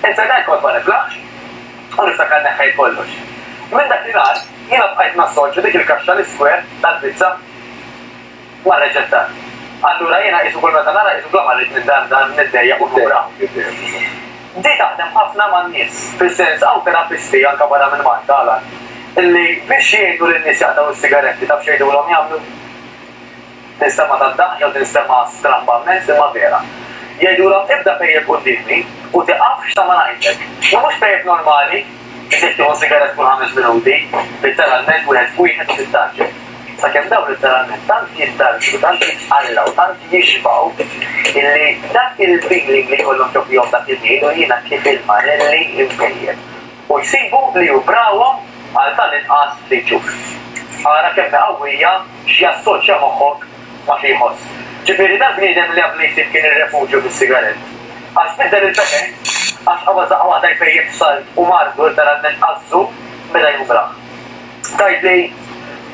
Iżda dan kont ma niflaħx u niftakar neħħejt kollox. Minn dak li nhar jiena bqajt nassorċi dik il-kaxxa l-iskwar tal-pizza mar-reċetta. Allura jiena qisu kull meta nara qisu bla ma rrid minn dan dan niddejjaq u nura. Di taħdem ħafna man-nies, fis-sens hawn terapisti anke barra minn Malta, Alan, li biex jgħinu lin-nies jaqtgħu s-sigaretti taf x'għidulhom jagħmlu? Tinstema' ta' dahja u tinstema' strambament imma vera. Jgħidulhom ibda pejjep quddiemi u tiqafx sa ma ngħidlek. Imma mhux pejjep normali, iżjed tieħu sigarett kull ħames minuti, litteralment wieħed f'wieħed u tittgħaġġel. Sakemm dawn litteralment tant jittarġu, tant jitqallgħu, tant jixbgħu illi dak il-feeling li jkollhom ġo fihom dak il-ħin u jiena kif il-marelli impejjep. u jsibu li hu brawhom għal tal-inqas ftit ġuf. Ara kemm hi qawwija x'jassoċja moħħok ma' xi jħoss. Ġifieri dal-bniedem li qablu jsib kien ir-refuġju fis-sigarett, għax biddel il-pepe, għax qabad daqqa waħda jpejjep salt u mardu letteralment qażżu meta jum brah. Tgħidli.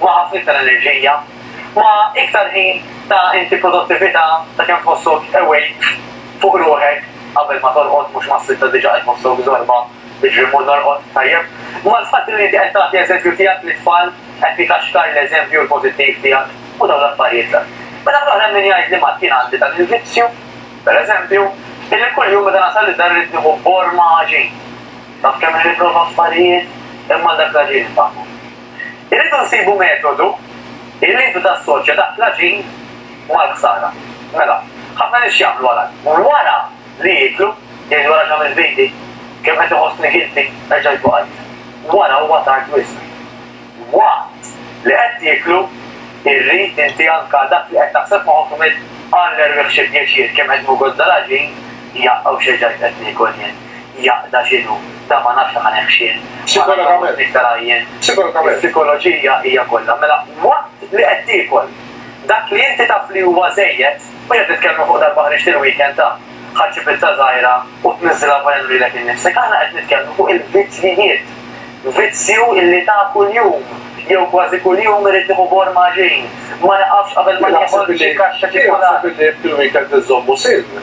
ma' ħasil tal-enerġija, ma' iktar ħin ta' inti produttività ta' kemm tħossok awake fuq ruħek qabel ma torqod mhux mas-sitta diġa qed tħossok żorba iġri mmur norqod tajjeb, mal-fatt li inti qed tagħti eżempju tiegħek lit-tfal qed tikaxkar l-eżempju l-pożittiv tiegħek u dawn l-affarijiet l. Minn naħa l-oħra hemm min jgħidli Mat jien għandi dan il-vizzju, per eżempju, illi kuljum meta nasal id-dar irrid nieħu borma għaġin. Taf kemm nipprova affarijiet imma għal dak l-għaġin infaħħu. Irridu nsibu metodu illi intu tassoċja dak l-għaġin mal-ħsara. Mela, ħafna nies x'jagħmlu għal hekk? Wara li jieklu, jgħidu ara x'għamilt b'idi, kemm qed iħossni guilty, erġa' jieħdu qalb. Wara huwa tard wisq. Waqt li qed tieklu, irrid inti anka dak li qed taħseb f'moħħok tgħmel, Alla erwieħ xi pjaċir kemm qed ngugozza l-għaġin, jaqqa' u x'erġajt qed niekol jien. jaqda x'inhu. Dan ma nafx jekk ħanehxih. Sikologament. Iktar għajjien. Sikologament. Is-sikoloġija hija kollha. Mela, waqt li qed tiekol, dak li inti taf li huwa żejjed, u qed nitkellmu fuq darba ħriġt il-weekend ta', ħadd xi pizza żgħira u tniżżilha f'għajnejn u lilek innifsek. Aħna qed nitkellmu fuq il-vizzjijiet. Vizzju li ta' kuljum, jew kważi kuljum irid nieħu bor ma' ġin. Ma niqafx qabel ma nieħol xi kaxxa ċikkulata. Jien naħseb li fil-weekend inżommu siln.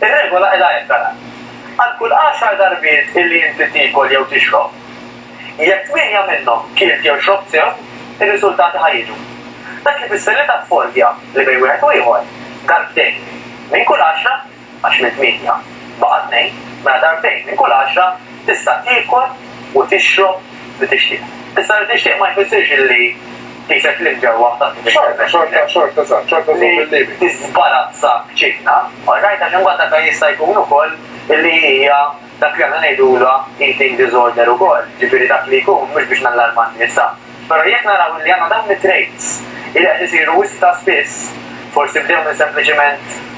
Ir-regola hi la ettara. Għal kull għaxar darbiet illi inti tiekol jew tixrob, jekk tmienja minnhom kielt jew xrobt sew, ir-riżultati ħa jiġu. Dak ifisser li taf fordja li bejn wieħed u ieħor, darbtejn minn kull għaxra, għax minn tmienja baqa' tnejn, mela darbtejn minn kull għaxra tista' tiekol u tixrob li tixtieq. Issa li tixtieq ma jfissirx li qisek li mġewwaħ tant kemm inti temmel. Xorta, xorta, xorta, xorta żżomm il-limiti. Li tiżbalazza b'ċinna, alright, għax imbagħad dak jista' jkun ukoll li hija dak li aħna ngħidulha eating disorder ukoll, jiġifieri dak li jkun, mhux biex nallarma n-nisa, però jekk naraw li għandna dawn it-traits li qed isiru wisq ta' spiss, forsi bdew minn sempliċiment,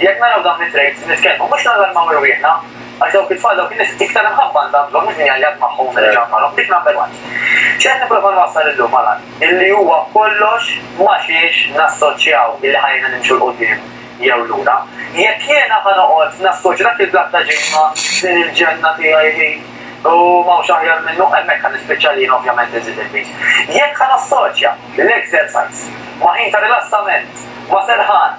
Jekk naraw dawn it-traits nitkellmu mhux nallarmaw irwieħna għax dawk it-tfal dawk in-nies iktar imħabba għandha għandhom minn jgħajjat magħhom u minn iġarr magħhom dik number one. X'qed nipprova nwassal illum ma' lan illi huwa kollox ma' xiex nassoċjaw illi ħa jgħinna nimxu 'l quddiem jew lura. Jekk jiena ħa noqgħod nassoċja dak il-blat ta' ġid ma' din il-ġenna tiegħi hi u m'hawnx aħjar minnu hemmhekk ħa nispiċċa li jien ovvjament inżid il-piż. Jekk ħa nassoċja l-exercise ma' ħin ta' rilassament, ma' serħan,